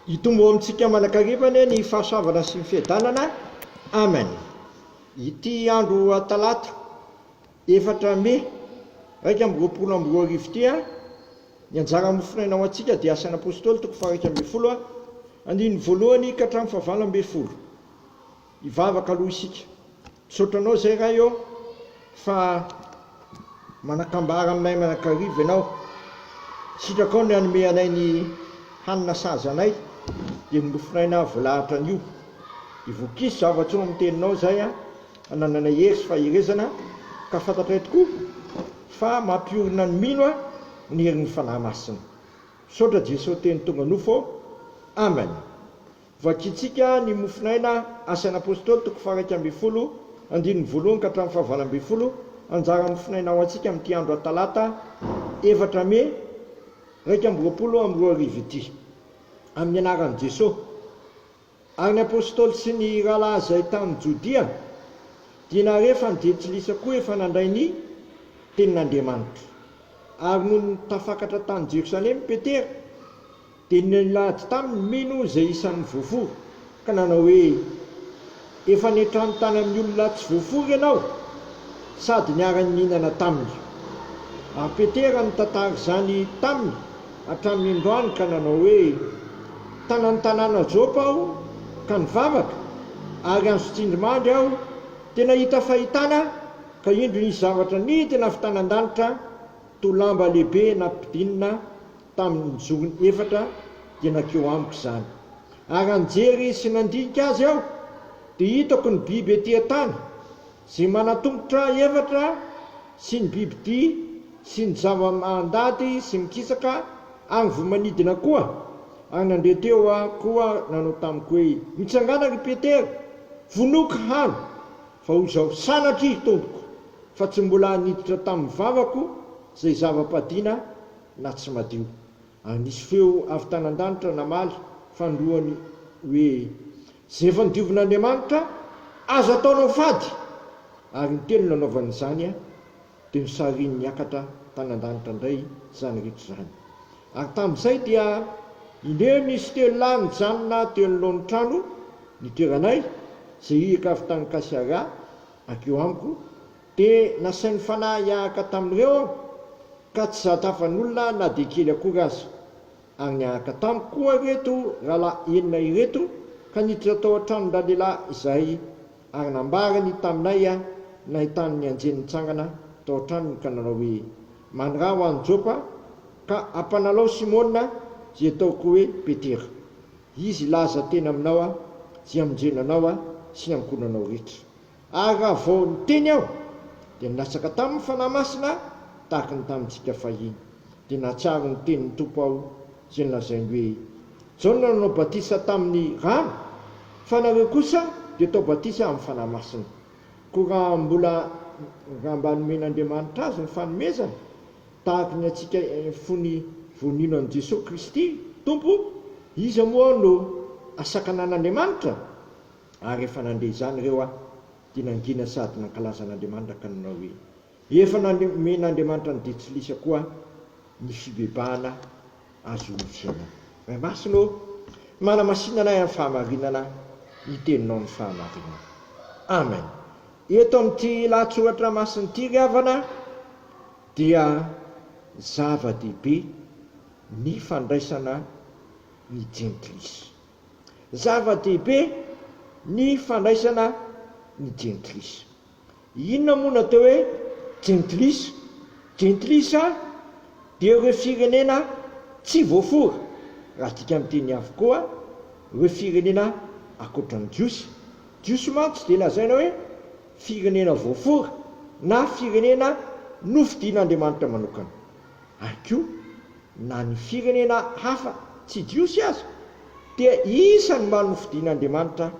Hitombo ao amintsika aman'akariva anie ny fahasoavana sy ny fiadanana. Amen. Ity andro Talata efatra Mai iraika amby roapolo amby roa arivo ity, ny anjara mofonaina ho antsika dia Asan'ny Apôstôly toko fahairaika ambin'ny folo, andininy voalohany ka hatramin'ny fahavalo ambin'ny folo. Hivavaka aloha isika. Misaotra anao zay Ray ô, fa manakambara aminay mianakariva ianao. Sitrakao ny hanome anay ny hanina sahaza anay, dia ny nofinay na volahatra anio. Dia voakisy zavatra eo amin'ny teninao izay hanananay hery sy faherezana, ka fantatray tokoa fa mampiorina ny mino ny herin'ny Fanahy Masina. Misaotra Jeso Teny tonga nofo ô. Amen. Vakintsika ny mofonaina Asan' Apôstôly toko faha-iraika ambin'ny folo, andininy voalohany ka hatramin'ny fahavalo ambin'ny folo, Anjara mofonaina ho antsika amin'ity andro Atalata efatra Mey iraika amby roapolo amby roa arivo ity. Amin'ny anaran'i Jesoa ary ny Apôstôly sy ny rahalahy izay tany Jodia dia nahare fa ny jentilisa koa efa nandray ny Tenin'Andriamanitra. Ary nony tafakatra tany Jerosalema Petera, Dia nilahady taminy mino izay isan'ny voafory, ka nanao hoe, Efa niantrano tany amin'ny olona tsy voafory ianao, sady niara-nihinana taminy. Ary Petera nitantara izany taminy hatramin'ny androany ka nanao hoe, Tana ny tanàna Jopa aho ka nivavaka, ary azo tsindrimandry aho dia nahita fahitana, ka indro nisy zavatra nidina avy tany an-danitra toa lamba lehibe nampidinina tamin'ny zorony efatra dia nankeo amiko izany. Ary nijery sy nandinika azy aho, dia hitako ny biby ety an-tany, izay manan-tongotra efatra, sy ny bibidia, sy ny zava-mandady sy mikisaka, ary ny voamanidina koa. Ary nandeha teo aho koa nanao tamiko hoe, Mitsangàna, ry Petera, vonoiko hany, fa hoy izao, Sanatria, Tompoko, fa tsy mbola niditra tamin'ny vavako izay zava-padiana na tsy madio. Ary nisy feo avy tany an-danitra namaly fanindroany hoe, Izay efa nodiovin'Andriamanitra, aza ataonao fady! Ary ny teny nanaovany izany dia nosariny niakatra tany an-danitra indray izany rehetra izany. Ary tamin'izay dia indray nisy telo lahy nijanona teo anoloan'ny trano nitoeranay, izay hiaka avy tany Kasiara hankeo amiko, Dia nasain'ny Fanahy hiahaka tamin'ireo aho, ka tsy zahatafan'olona na dia kely akory aza. Ary niahaka tamiko koa ireto rahalahy enina ireto, ka niditra tao an-tranon-dralehilahy izahay, ary nambarany taminay nahitany ny anjely nitsangana tao an-tranony ka nanao hoe, Mandraha ho any Jopa, ka ampanalao Simona, izay atao koa hoe Petera. Izy hilaza teny aminao izay hamonjena anao sy ny ankohonanao rehetra. Ary raha vao niteny aho, dia nilatsaka taminy ny Fanahy Masina tahaka ny tamintsika fahiny. Dia nahatsiaro ny tenin'ny Tompo aho, izay nolazainy hoe, Jaona nanao batisa tamin'ny rano, fa nareo kosa dia atao batisa amin'ny Fanahy Masina. Koa raha mbola, raha mba nomen'Andriamanitra azy ny fanomezana, tahaka ny antsika fony vonino an'i Jesoa Kristy Tompo, iza moa no hasakanan'Andriamanitra? Ary rehefa nandre izany ireo aho, dia nangina sady nankalaza an'Andriamanitra ka nanao hoe, Efa nomen'Andriamanitra an'i Detsylisa koa ny fibebahana ahazoany fiainana. Ray Masina ô, manamasina anay amin'ny fahamarinana ny Teninao ny fahamarinana. Amen. Eto amin'ity lahatsoratra masina ity, ry havana, dia zava-dehibe ny fandraisana ny Jentilisa. Zava-dehibe ny fandraisana ny jentilisa. Inona moa no atao hoe jentilisa? Jentilisa dia ireo firenena tsy voafora, raha adika amin'ny teny avokoa, ireo firenena ankoatra ny Jiosy. Jiosy mantsy dia lazaina hoe firenena voafora na firenena nofidian'Andriamanitra manokana. ary koa na ny firenena hafa tsy Jiosy aza dia isan'ny mba nofidin'Andriamanitra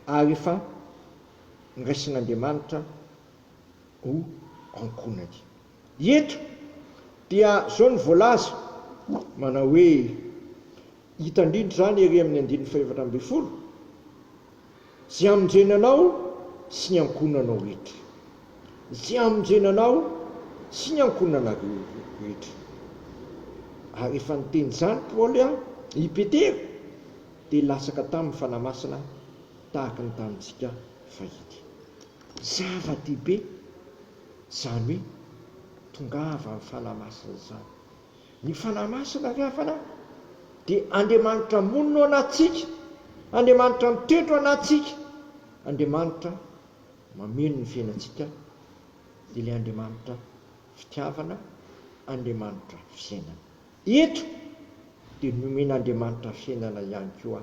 ary efa noraisin'Andriamanitra ho ankohonany. Eto dia izao no voalaza, manao hoe, hita indrindra izany ery amin'ny andininy fahefatra ambin'ny folo, Zay hamonjena anao sy ny ankohonanao rehetra. Zay hamonjena anao sy ny ankohonanareo rehetra. Ary rehefa niteny izany Paoly i Petera dia latsaka taminy Fanahy Masina tahaka ny tamintsika fahiny. Zava-dehibe izany hoe tongava ny Fanahy Masina izany. Ny Fanahy Masina ry havana dia Andriamanitra monina ao anatintsika, Andriamanitra mitoetra ao anatintsika, Andriamanitra mameno ny fiainantsika, dia ilay Andriamanitra fitiavana, Andriamanitra fiainana. Eto dia nomen'Andriamanitra fiainana ihany koa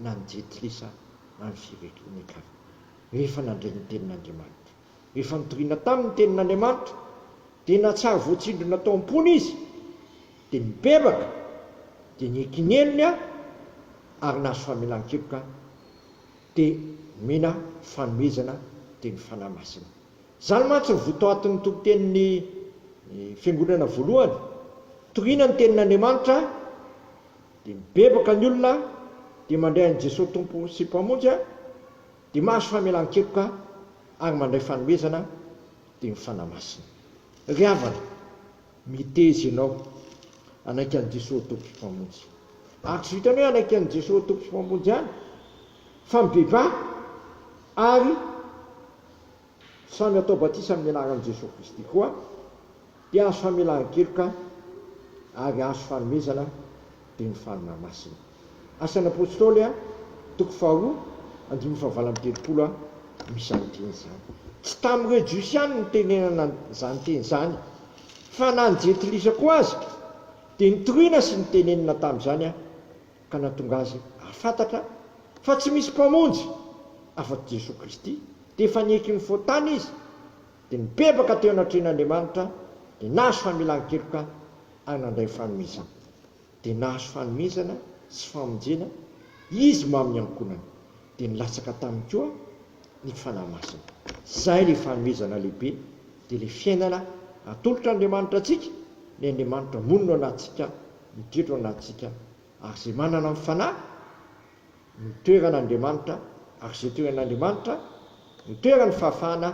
na ny jentilisa na ny firenen-kafa rehefa nandray ny tenin'Andriamanitra, rehefa nitoriana taminy ny tenin'Andriamanitra Dia nahatsiaro voatsindrona tao am-pony izy, dia nibebaka, dia nikinenony aho ary nahazo famelan-keloka aho, dia nomena fanomezana dia ny Fanahy Masina. Izany mantsy no votoatin'ny tompon-tenin'ny Fiangonana voalohany, torina ny tenin'Andriamanitra, dia mibebaka ny olona, dia mandray an'i Jesoa Tompo sy Mpamonjy, dia mahazo famelan-keloka ary mandray fanomezana, Dia ny Fanahy Masina. Ry havana, miteza ianao hanaiky an'i Jesoa ho Tompo sy Mpamonjy. Ary tsy vitan'ny hoe hanaiky an'i Jesoa ho Tompo sy Mpamonjy ihany, fa mibebaha ary samy atao batisa amin'ny anaran'i Jesoa Kristy koa Dia azo hamelan-keloka ary azo fanomezana dia ny fanina masina. Asan'ny Apôstôly, toko faharoa, andininy fahavalo amby telopolo a, no izany teny izany. Tsy tamin'ireo Jiosy ihany no nitenenana izany teny izany, fa na ny Jentilisa koa aza dia nitoriana sy nitenenina tamin'izany ka nahatonga azy hahafantatra fa tsy misy Mpamonjy afa-tsy Jesoa Kristy, dia efa nieky ny fotana izy Dia nibebaka teo anatrehan'Andriamanitra, dia nahazo familan-keloka ary nandray fanomezana. Dia nahazo fanomezana sy famonjena Izy mamin'ny ankohonany. Dia nilatsaka taminy koa ny Fanahy Masina. Izay ilay fanomezana lehibe, dia ilay fiainana atolotr'Andriamanitra antsika, ilay Andriamanitra monina ao anatintsika, midredra ao anatintsika, ary izay manana ny Fanahy, ny toeran' Andriamanitra ary izay toeran' Andriamanitra no toeran' ny fahafahana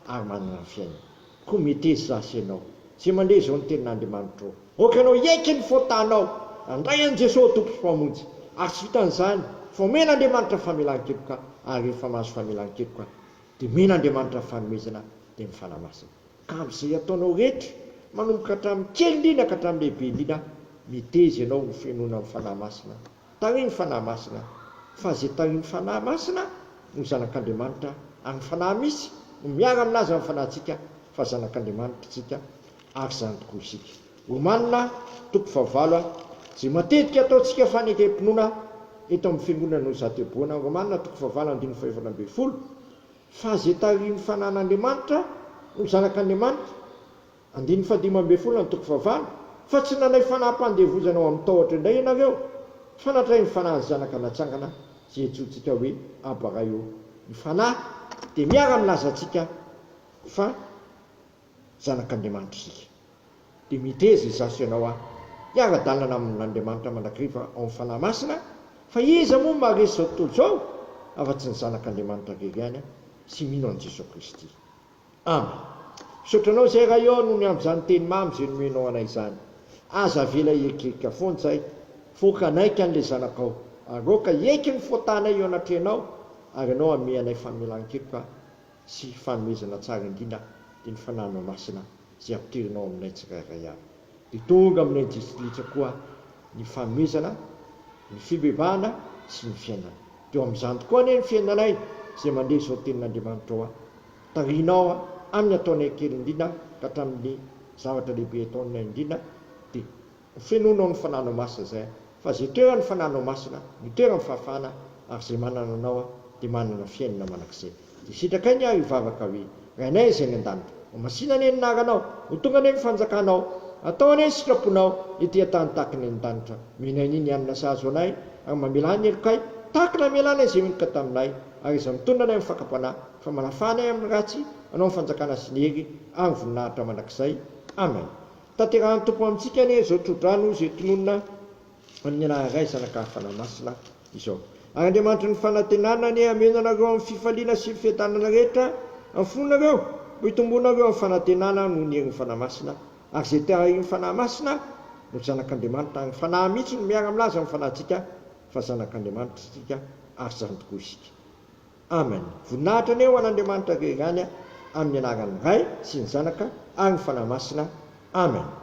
ary manana ny fiainana. Koa metez za sy ianao, izay mandre izao ny tenin' Andriamanitra ô. Aoka ianao hiaiky ny fahotanao, handray an'i Jesoa ho Tompo sy Mpamonjy, ary tsy vitan' izany, fa omen' Andriamanitra famelan-keloka, ary rehefa mahazo famelan-keloka, dia omen' Andriamanitra fanomezana, dia ny Fanahy Masina. Ka amin' izay ataonao rehetra, manomboka hatramin' ny kely indrindra ka hatramin' ny lehibe indrindra, metez ianao hofenoina ny Fanahy Masina. Taoy ny Fanahy Masina, fa izay taoy ny Fanahy Masina no zanak'Andriamanitra, ary ny Fanahy misy no miara aminazy amin'ny fanahintsika fa zanak'Andriamanitra isika, ary izany tokoa isika. Romanina toko fahavalo a Izay matetika ataontsika fanekem-pinoana eto amin'ny Fiangonana no zateboana, Romanina toko fahavalo andininy fahefatra ambin'ny folo, fa izay tarihin'ny Fanahin'Andriamanitra no zanak'Andriamanitra, Andininy fahadimy ambin'ny folo Antoko fahavalo, Fa tsy nanaiky fanaham-pandevozana ho amin'ny tahotra indray ianareo, fa natray ny fanahin'ny Zanaka natsangana izay antsointsika hoe Aba Ray ô. Ny fanahy dia miara-milaza antsika fa zanak'Andriamanitra isika. Dia miteza izaho sy ianao hiara-dalana amin'Andriamanitra mandrakariva ao amin'ny Fanahy Masina, fa iza moa maharesy izao tontolo izao afa-tsy ny zanak'Andriamanitra irery ihany sy mino an'i Jesoa Kristy. Amen. Misaotra anao zay Ray ô nony amzany teny mamy zay nomenao anay izany. Aza avela hieritreritra foana zay fô ka naika anle zanakao ary aoka hiaiky ny fôtanay eo anatrehanao ary anao ame anay famelan-keloka sy fanomezana tsara indrindra de ny fananao masina izay ampidirinao aminay tsirairay avy. Dia tonga aminay distrika koa ny fanomezana, ny fibebahana sy ny fiainana. Dia eo amin'izany tokoa anie ny fiainanay izay mandeha izao tenin'Andriamanitra ao. Tarihinao aho amin'ny ataonay kely indrindra ka hatramin'ny zavatra lehibe ataonay indrindra, dia. Fenoina ao ny fananao masina zay fa ze toeran ny fananao masina no toeran fahafahana ary ze manana anao de manana fiainana manak'izay de sitraka iny ary hivavaka hoe rainay izay any andanitra ho masina anie ny naranao ho tonga anie ny fanjakanao atao anie ny sitraponao ety antany tahaka ny any andanitra menay ny ny hanina sahazo anay ary mamelà ny helokay tahaka namelanay izay meloka taminay ary iza mitondra anay amin'ny fakam-panahy fa manafahanay amin'ny ratsy anao ny fanjakana sy ny hery ary ny voninahitra manak'izay amen. Tanterahan'ny Tompo amintsika anie izao tro-drano izay tononina amin'ny anaran'ny Ray, Zanaka ary Fanahy Masina izao. Ary Andriamanitry ny fanantenana anie hameno anareo amin'ny fifaliana sy ny fiadanana rehetra amin'ny fonareo, mba hitombonareo amin'ny fanantenana noho ny herin'ny Fanahy Masina, ary izay te-haharian'ny Fanahy Masina no zanak'Andriamanitra, ary ny Fanahy mihitsy no miara-milaza amin'ny fanahintsika fa zanak'Andriamanitra isika, ary izany tokoa isika. Amen voninahitra anie ho an' Andriamanitra avy eo ihany amin' ny anaran' ny Ray sy ny Zanaka ary ny Fanahy Masina Amen.